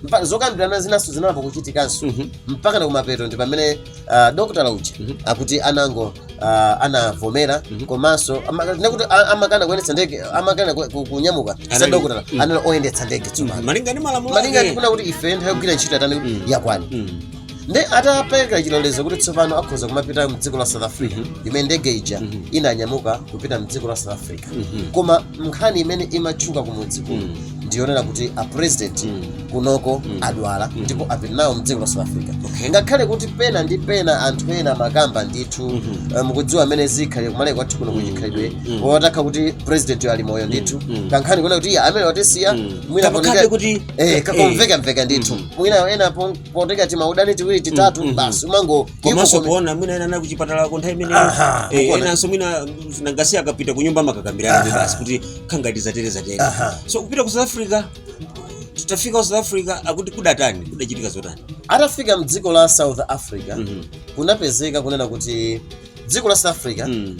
Mpa- zokambirana zinaso zinayamba kuchitikanso Mhm. mpakana kumapeto ndi pamene uh, dokotala uja mm -hmm. akuti anango- uh, anavomera mm -hmm. komanso ndekuti amakana kuyendetsa ndege amakana kunyamuka si a dokotala mm -hmm. anali oyendetsa ndege tsopano mm-hmm. malinga ndi malamulo malinga ndikunena kuti ife nthawi yogwira ntchito yatani mm -hmm. yakwana mm -hmm nde atapereka chilolezo kuti tsopano akhoza kumapita mdziko la south africa mhm. mmene ndege ija mhm. inanyamuka kupita mdziko la south africa mhm. koma nkhani imene imatchuka kumudzi kuno ndiyonena kuti a president kunoko adwala ndipo apita nawo mdziko la south africa Okay. ngakhale kuti pena ndi pena anthu ena amakamba ndithu eh, mukudziwa mmene zikhalire kumaleka kwathu kuno kuchikhalidwe otakhala kuti president ali moyo ndithu kankhani konena kuti iye amene watisiya mwina Kapakabe poneka- kuti- eh, kakomveka mveka ndithu mwina ena pon- poteteza timaudindo tiwiri titatu basi umango komanso ivo komi- kuona mwina ena anali kuchipatala ku nthawi imene Aha, Eh, ukuona. enanso mwina ma nurse akapita kunyumba amakakambirana basi kuti kukhala ngati zatere zatere Aha. so kupita ku south africa atafika ku south africa akuti kudatani kudachitika zotani atafika mdziko la south africa Mhm. kunapezeka kunena kuti dziko la south africa Mm,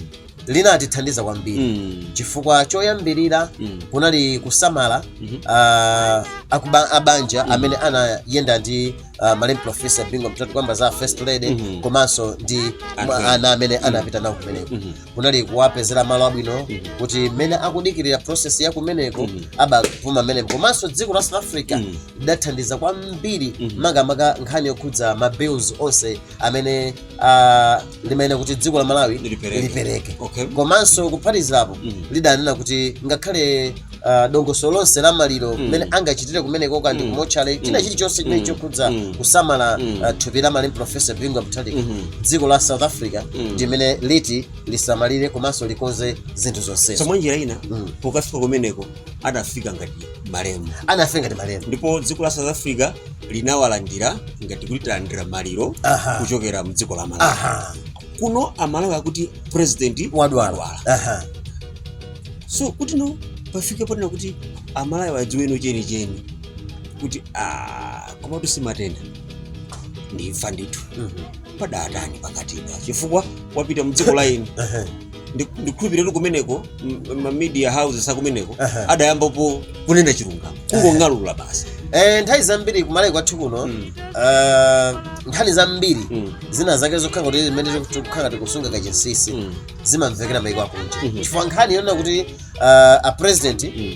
linatithandiza kwambiri mm, chifukwa choyambirira mm, kunali kusamala mhm. ah, akuba- abanja amene anayenda ndi ah, malemu profesa bingu mutharika tikukamba za first lady Mhm. komanso ndi Anthu mwa- ena. ana amene anapita nawo kumeneko Mhm. kunali kuwapezera malo abwino Mhm. kuti mmene akudikirira process ya kumeneko Mhm. abapuma mmenemo komanso dziko la south africa Mhm. lidathandiza kwambiri Mhm. makamaka nkhani yokhudza ma bills onse amene ah, limayenera kuti dziko la malawi Lipereke. lipereke Okay. komanso kuphatizirapo Mhm. lidanena kuti ngakhale ah, dongosolo lonse la maliro mmene angachitire kumeneko kaya ndi kumotchale china chilichonse chimene chokhudza kusamala ah, thupi la malemu profesa bingu wa mutharika dziko la south africa ndi limene liti lisamalire komanso likonze zinthu zonsezo so mwa njira ina Mm. pokafika kumeneko adafika ngati malemu anafika ngati malemu ndipo dziko la south africa linawalandira ngati kuti talandira maliro Aha. kuchokera mdziko la malawi aha kuno amalawi akuti president wadwala Aha. so kuti tsono pafike ponena kuti amalawi adziwe tsono chenicheni kuti ah, komatu simatenda ndimfa ndithu Mhm. padatani pakatipa chifukwa wapita mdziko laini Aha. Ndi- ndikhulupirira kuti kumeneko m- ma media houses akumeneko Aha. adayambapo kunena chilungamo kungong'alula basi Eh, nthawi zambiri kumalawi kwathu kuno Mm. ah, nkhani zambiri Mm. zina zake zokhala kuti zimene tikukhala tikusunga kachinsinsi Mm. zimamvekera maiko akunja Mhm. chifukwa nkhani yonena kuti ah, a president Mm.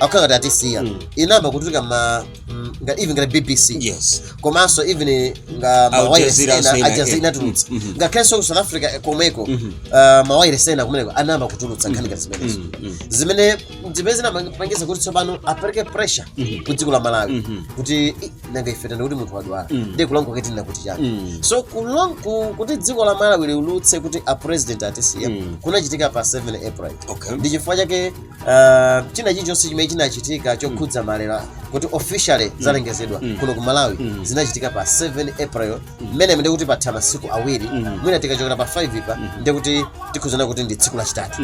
akukhala ngati atisiya Mm. inayamba kutuluka ma mm, nga even ngati bbc yes komanso even nga Al mawayiresi Jazeera ena saying ajazira again. inatulutsa Mm, mhm. ngakhalenso ku south africa eh, komweko Mhm. ah, mawayiresi ena kumeneko anayamba kutulutsa nkhani ngati zimenezo Mm, mm. zimene zimene zinapangisa kuti tsopano apereke pressure Mhm. ku dziko la malawi Mhm. kuti "Ih, nanga ife tani kuti munthu wadwala Mm. ndiye kulankhula kuti tinena kuti chani Mm. so kulong- ku- kuti dziko la malawi liulutse kuti a president atisiya Mm. kunachitika pa 7 april okay ndi chifukwa chake Uh, china chilichonse chimene chinachitika chokhudza maliro kuti officially zalengezedwa Mm. kuno ku malawi Mm. zinachitika pa 7 april mmene ndi kuti patha masiku awiri Mm. mwina tikachokera pa 5 pa nde kuti tikunena kuti ndi tsiku lachitatu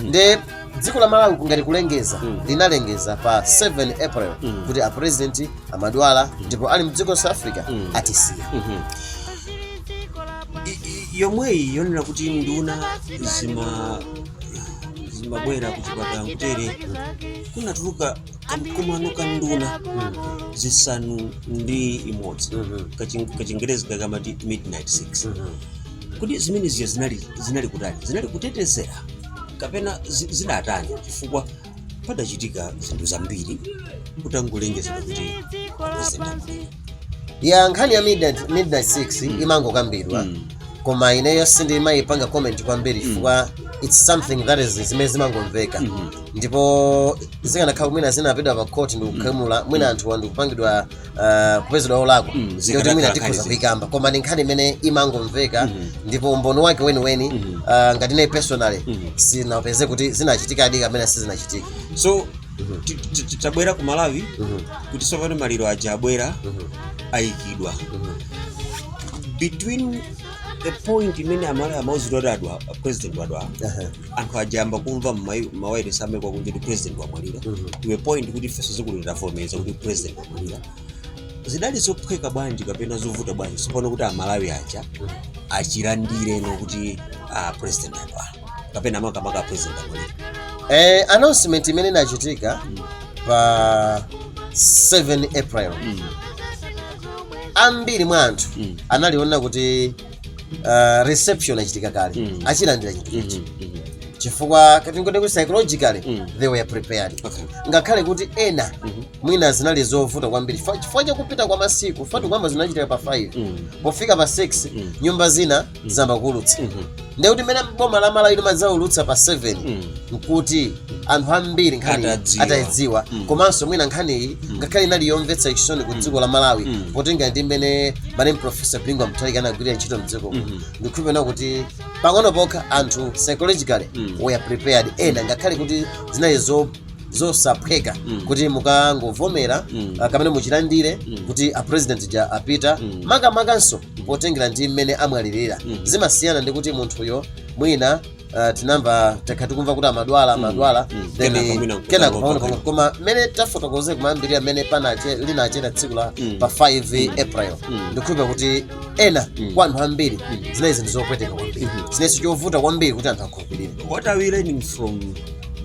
nde dziko la malawi ngati kulengeza Mm. linalengeza pa 7 april Mm. kuti a president amadwala ndipo ali mdziko la South africa Mm. atisiya Mhm. I- i- yomweyi yonena kuti nduna zima zimabwera kuchipatala kutere kunatuluka kamkumano ka nduna zisanu ndi imodzi Kachin- kachingerezi kakamati midnight six kodi zimeneziyo zinali zinali kutani zinali kutetezera kapena zi- zidatani chifukwa padachitika zinthu zambiri kutangolengezedwa kuti ya nkhani ya midnight, midnight 6 imangokambidwa koma ineyo sindimayipanga comment kwambiri chifukwa its something that is zimene zimangomveka ndipo zikanakhala mwina zinapita pa court ndikugamula mwina anthu ndikupangidwa uh, kupezedwa olakwa Mm, ndikuti zikanakhala mwina tikhoza nkhani kuyikamba koma ndi nkhani imene imangomveka ndipo umboni wake weniweni uh, ngati ine personally sindinapeze kuti zinachitikadi kapena sizinachitika so Mhm. Ti- ti- ti- tabwera ku malawi Mhm. kuti tsopano maliro aja abwera Mhm. ayikidwa Mhm. between the point imene amalawi amauzidwa kuti president wadwala Aha. anthu aja ayamba kumva mmawairesi amaiko akunja kuti president wamwalira Mhm. to a point kuti ifenso dziko lathu tavomereza kuti president wamwalira zidali zophweka bwanji kapena zovuta bwanji tsopano kuti amalawi aja achilandire no kuti ah, president wadwala kapena makamaka president amwalira eh, announcement imene inachitika pa 7 april ambiri mwa anthu Mm. anali woti uh, reception yachitika kale Mm. achilandira chinthu ichi chifukwa tingoti kuti psychologically Mm. they were prepared Okay. ngakhale kuti ena Mhm. mwina zinali zovuta kwambiri Fa- chifukwa chakupita kwa masiku paja poyamba zinachitika pa 5 Mm. pofika pa 6 Mm. nyumba zina zayamba kuulutsa Mhm. ndiye kuti mmene boma la malawi limadzaulutsa pa 7 Mm. nkuti anthu ambiri nkhani Atadziwa. atayidziwa Mm. komanso mwina nkhaniyi ngakhale inali yomvetsa chisoni ku dziko la malawi Mm. potengera ndi mmene malemu professor bingu wa mutharika anagwirira ntchito mdziko muno Mhm. ndikukhulupilira kuti pang'ono pokha anthu psychologically Mm. were prepared ena ngakhale kuti zinali zo- zosaphweka Mm. kuti mukangovomera Mm. ah, kapena muchilandire Mm. kuti a president ja apita Mm. makamakanso potengera ndi mmene amwalirira Mm. zimasiyana ndi kuti munthuyo mwina ah, tinamva takhala tikumva kuti amadwala amadwala Mm. then Kenako mwina nkuta kenako ngopa pang'ono pang'ono kwina. koma mmene tafotokozera kumayambirira mmene panache linachera tsiku la Mm. pa 5 april Mm. ndikukhulupira kuti ena Mm. kwa anthu ambiri Mm. zinali zinthu zopweteka kwambiri Mhm. chinalinso chovuta kwambiri kuti anthu akhu lupirire what are we learning from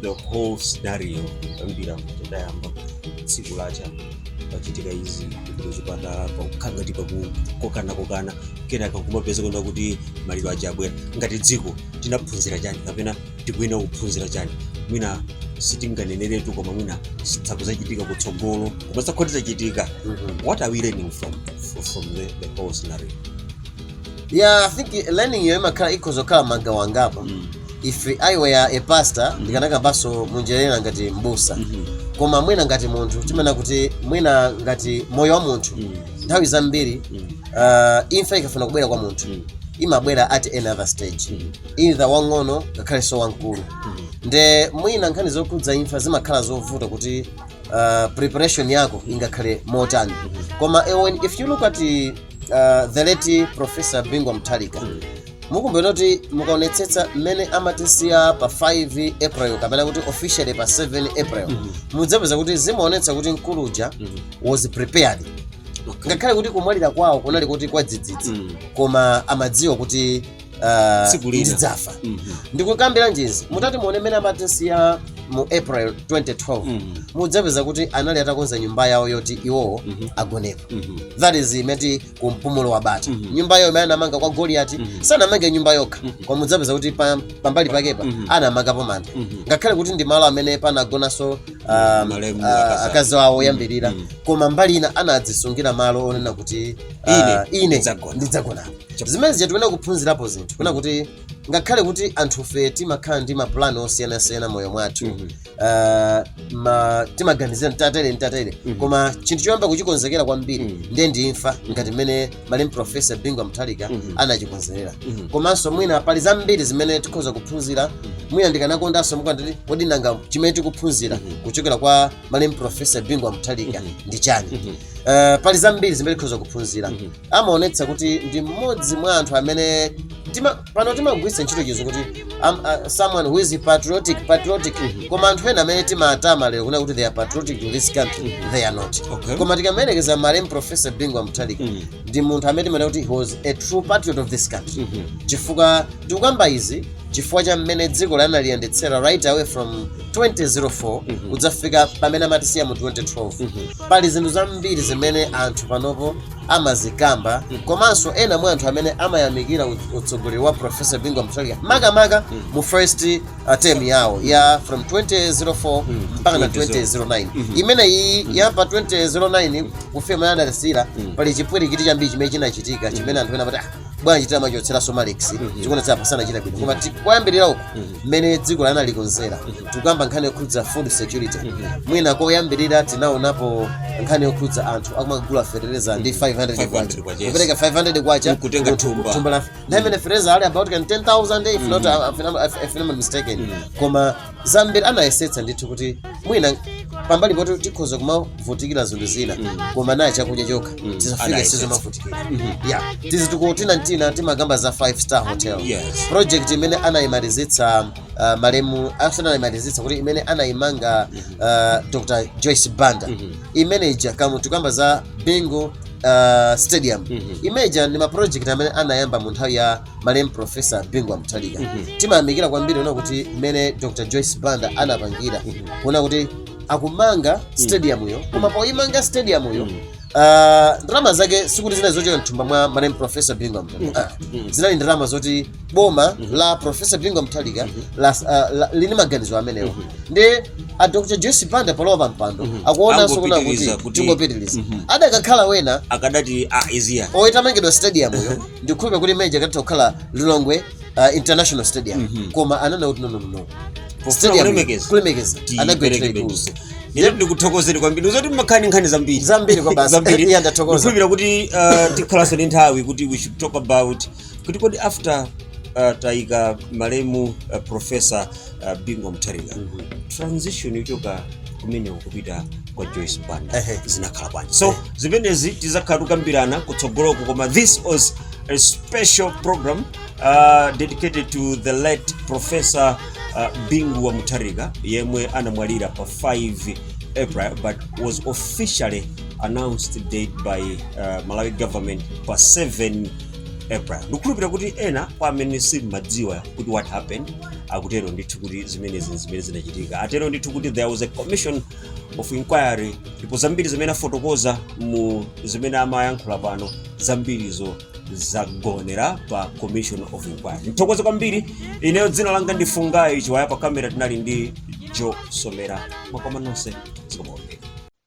the whole scenario kuyambira mmene layamba tsiku lacha pachitika izi kupita chipatala pakukhala ngati pali kukokanakokana kenaka kumapeto kuona kuti maliro aja abwera ngati dziko tinaphunzira chani kapena tikuyenera kuphunzira chani mwina sitinganeneretu koma mwina zidzachitika kutsogolo koma zikhoza kudzachitika what are we learning from, from the, the whole scenario yeah i think learning yo imakhala ikhoza kukhala magawo angapo if i were a pastor ndikanakambanso munjira ina ngati mbusa koma mwina ngati munthu timanena kuti mwina ngati moyo wa munthu nthawi zambiri uh, imfa ikafuna kubwera kwa munthu imabwera at any other stage either wang'ono ngakhalenso wamkulu nde mwina nkhani zokhudza imfa zimakhala zovuta kuti uh, preparation yako ingakhale motani koma eh, when- if you look at uh, the late professor bingu wa mutharika mukumbukira kuti mukaonetsetsa mmene amatisiya pa 5 april kapena kuti officially pa 7 april mm -hmm. mudzapeza kuti zimaonetsa kuti mkulu uja mm -hmm. was prepared ngakhale kuti kumwalira kwawo kunali kuti kwadzidzidzi mm -hmm. koma amadziwa kuti ah, Tsiku lina. ndidzafa Mhm. ndikukambira nji izi mutati muone mmene amatisiya mu april 2012 Mhm. mudzapeza kuti anali atakonza nyumba yawo yoti iwowo Mhm. agonepo Mhm. that is I mean ku mpumulo wa bata Mhm. nyumba yawo imene anamanga kwa goliyati Mhm. sanamange nyumba yokha Mhm. koma mudzapeza kuti pa- pambali pakepo Mhm. anamangapo manda Mhm. ngakhale kuti ndi malo amene panagonanso um, Malemu uh, akazi akazi awo oyambirira Mhm. koma mbali ina anadzisungira malo onena kuti uh, Ine ine ndidzagona. ndidzagonapo Zimenezija tikuyenera kuphunzirapo zinthu kunena kuti ngakhale kuti anthufe timakhala ndi mapulani osiyanasiyana moyo mwathu Mhm. ah, ma- timaganizira mtatere mtatere Mhm. koma chinthu choyamba kuchikonzekera kwambiri Mhm. ndiye ndi imfa ngati mmene malemu profesa bingu wa mutharika Mhm. anachikonzekerera Mhm. komanso mwina pali zambiri zimene tikhoza kuphunzira mwina ndikanakondanso mukanati kodi nanga chimene tikuphunzira Mhm. kuchokera kwa malemu profesa bingu wa mutharika Mhm. ndi chani Mhm. Eh, pali zambiri zimene tikhoza kuphunzira Mhm. amaonetsa kuti ndi mmodzi mwa anthu amene tima, pano timagwiritsa ntchito chizungu kuti am, uh, someone who is patriotic patriotic koma anthu ena amene timatama lero kunena kuti they are patriotic to this country they are not Okay. koma tikamayerekeza malemu professor bingu wa mutharika Mhm. ndi munthu amene timaona kuti he was a true patriot of this country chifukwa tikukamba izi chifukwa cha mmene dziko lino analiyendetsera right away from 2004 Mhm. kudzafika pamene amatisiya mu 2012 Mhm. pali zinthu zambiri zimene anthu panopo amazikamba Mhm. komanso ena mwa anthu amene amayamikira ut- utsogoleri wa profesa Bingu wa Mutharika makamaka Mhm. mu first uh, term yawo ya from 2004 Mhm. mpaka na 2009 Mhm. imene iyi ya pa 2009 kufika mmene adatisiya Mhm. pali chipwirikiti chambiri chimene chinachitika chimene anthu ena amati "Ah, bwanji tamachotsera somalix Mhm. chikuonetsera pasanachita bwino koma ti- koyambirira uku Mhm. mmene dzikoli analikonzera tikuyamba nkhani yokhudza food security mwina koyambirira tinaonapo nkhani yokhudza anthu akumagula fertilizer ndi 500 kwacha kupereka 500 kwacha Kutenga munthu- thumba. thumba la nthawi imene fertilizer ali about 10000 if not if I'm- if I'm not mistaken koma zambiri anayesetsa ndithu kuti mwina pambali poti tikhoza kumavutikira zinthu zina koma chakudya chokha tisafike Anayesetsa. pozamavutikira ya tizi tikuti tina tina timakamba za 5 star hotel Yes. project imene anayimalizitsa uh, malemu asanayimalizitsa kuti imene anayimanga uh, dr joyce banda imene ija kaya tikamba za bingu uh, stadium imeja ndi maproject amene anayamba mu nthawi ya malemu profesa bingu amuthalika timayamikira kwambiri kuona kuti mmene dr joyce banda anapangira kuona kuti akumanga stadiumyo koma poyimanga stadiumyo Uh, ndalama zake sikuti zinali zochokera mthumba mwa malemu profesa bingu wa mutharika Ah, zinali ndalama zoti boma la profesa bingu wa mutharika la- ah, la- linali maganizo amenewo ndi a dr joyce banda palowa pa mpando akuonanso kuna Angopitiriza kuti kuti- tingopitiriza adakakhala wena akadati idea oyitamangidwa stadium yo ndikhulupira kuti imeija ikanatha kukhala lilongwe uh, international stadium koma ananena kuti no no no Pofuna kulemekeza. kulemekeza anagwetera ikulu Ine ndikuthokozeni kwambiri kuti mmakhala ndi nkhani zambiri Zambiri kwabasi. zambiri Iya, ndathokoza. Ndikhulupira kuti uh, tikhalanso ndi nthawi kuti we should talk about kuti kodi after uh, tayika malemu uh, professor uh, bingu wa mutharika mm -hmm. transition yochoka kumene kupita kwa joyce banda uh -huh. zinakhala bwanji so uh -huh. zimenezi tizakhala tikukambirana kutsogoloko koma this was a special program uh, dedicated to the late professor uh, bingu wa mutharika yemwe anamwalira pa 5 april but was officially announced dead by uh, malawi government pa 7 april ndikhulupirira kuti ena kwa amene simumadziwa kuti what happened akutero ndithu kuti zimenezi ndi zimene zinachitika atero ndithu kuti there was a commission of inquiry ndipo zambiri zimene afotokoza mu zimene amayankhula pano zambirizo zagonera pa commission of inquiry ndithokoze kwambiri ineyo dzina langa ndi fungai chiwaya pa kamera tinali ndi joe somera mwakoma nonse zikomo